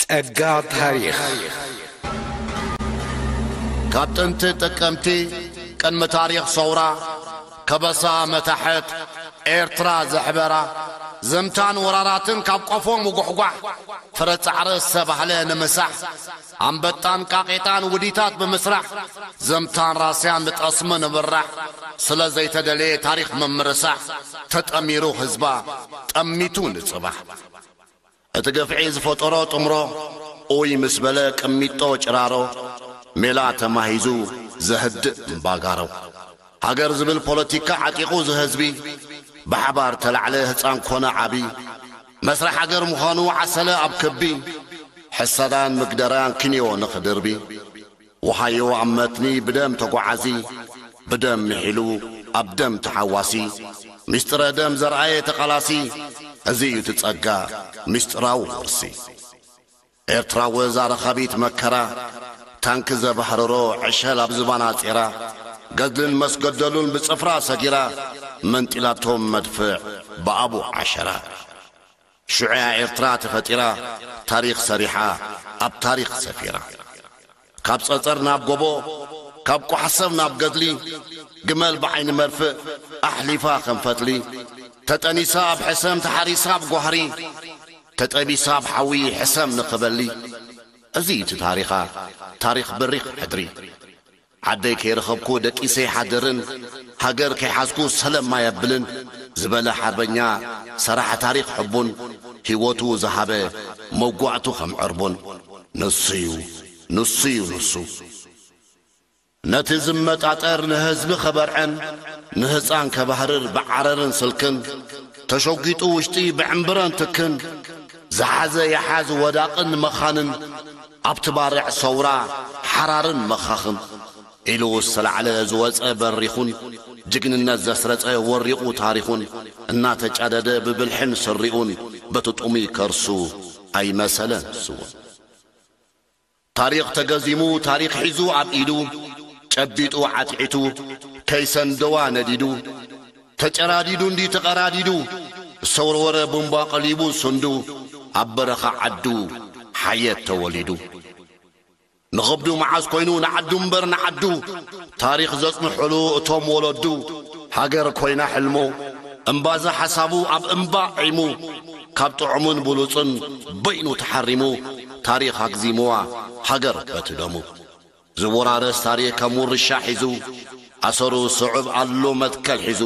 ጸጋ ታሪኽ ካብ ጥንቲ ጥቅምቲ ቅድሚ ታሪኽ ሰውራ ከበሳ መታሕት ኤርትራ ዘሕበራ ዘምታን ወራራትን ካብ ቆፎ ምጉሕጓሕ ፍረ ጻዕሪ ዝተባህለ ንምሳሕ ኣንበጣን ቃቒጣን ውዲታት ብምስራሕ ዘምታን ራስያን ንጠስሚ ንምራሕ ስለ ዘይተደለየ ታሪኽ ምምርሳሕ ተጠሚሩ ህዝባ ጠሚቱ ንጽባሕ እቲ ግፍዒ ዝፈጠሮ ጥምሮ ኡይ ምስ በለ ቅሚጦ ጭራሮ ሜላ ተማሂዙ ዘህድእ እምባጋሮ ሃገር ዝብል ፖለቲካ ዓጢቑ ዝህዝቢ ብሓባር ተላዕለ ህጻን ኮነ ዓቢ መስርሕ ሃገር ምዃኑ ዓሰለ ኣብ ክቢ ሕሰዳን ምግደርያን ክንዮ ንኽድርቢ ወሃዮ ኣብ መትኒ ብደም ተጓዓዚ ብደም ምሒሉ ኣብ ደም ተሓዋሲ ምስጢረ ደም ዘርኣየ ተቓላሲ እዚ እዩ እቲ ጸጋ ምስጢራዊ ውርሲ። ኤርትራ ወዛ ረኻቢት መከራ ታንኪ ዘባህርሮ ዕሸል ኣብ ዝባና ጼራ ገድልን መስገደሉን ብጽፍራ ሰጊራ መንጢላቶም መድፍዕ ብኣቡ ዓሸራ ሽዑ'ያ ኤርትራ ተፈጢራ ታሪኽ ሰሪሓ ኣብ ታሪኽ ሰፊራ። ካብ ጸጸር ናብ ጎቦ፣ ካብ ቋሕ-ሰብ ናብ ገድሊ፣ ግመል ብዓይኒ መርፍእ ኣሕሊፋ ከም ፈትሊ፣ ተጠኒሳ ኣብ ሕሰም ተሓሪሳ ኣብ ጓህሪ፣ ተጠቢሳ ኣብ ሓዊ ሕሰም ንኽበሊ፣ እዚ እዩ እቲ ታሪኻ ታሪኽ በሪኽ ሕድሪ። ዓደይ ከይረኸብኩ ደቂሰ ይሓድርን፣ ሃገር ከይሓዝኩ ሰለም ማይ ኣብልን፣ ዝበለ ሓርበኛ ሰራሕ ታሪኽ ሕቡን፣ ህይወቱ ዝሃበ መውጓእቱ ከም ዕርቡን። ንሱዩ ንሱዩ ንሱ ነቲ ዝመጣጠር ንህዝቢ ከበርዕን ንህፃን ከባህርር ብዓረርን ስልክን ተሸጒጡ ውሽጢ ብዕምብረን ትክን ዝሓዘ ይሓዝ ወዳቕን መኻንን ኣብቲ ባርዕ ሰውራ ሓራርን መኻኽን ዒሉ ዝተላዕለ ዝወጸ በሪኹን ጅግንነት ዘስረጸ ወሪቑ ታሪኹን እናተጫደደ ብብልሕን ስሪኡን በቲ ጡሙይ ከርሱ ኣይመሰለ ንሱውን ታሪኽ ተገዚሙ ታሪኽ ሒዙ ኣብ ኢዱ ጨቢጡ ዓትዒቱ ከይሰንደዋ ነዲዱ ተጨራዲዱ እንዲ ተቐራዲዱ ዝተወርወረ ቡምባ ቀሊቡ ስንዱ ኣብ በረኻ ዓዱ ሓየት ተወሊዱ ንኽብዱ መዓዝ ኮይኑ ንዓዱ እምበር ንዓዱ ታሪኽ ዘጽንሑሉ እቶም ወለዱ ሃገር ኮይና ሕልሙ እምባዘ ሓሳቡ ኣብ እምባ ዒሙ ካብ ጥዑሙን ብሉጹን በይኑ ተሓሪሙ ታሪኽ ኣግዚሙዋ ሃገር በቲ ደሙ ዝወራረስ ታሪኽ ከም ውርሻ ሒዙ ኣሰሩ ስዑብ ኣሉ መትከል ሒዙ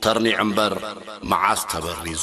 ተርኒዑ እምበር መዓዝ ተበሪዙ።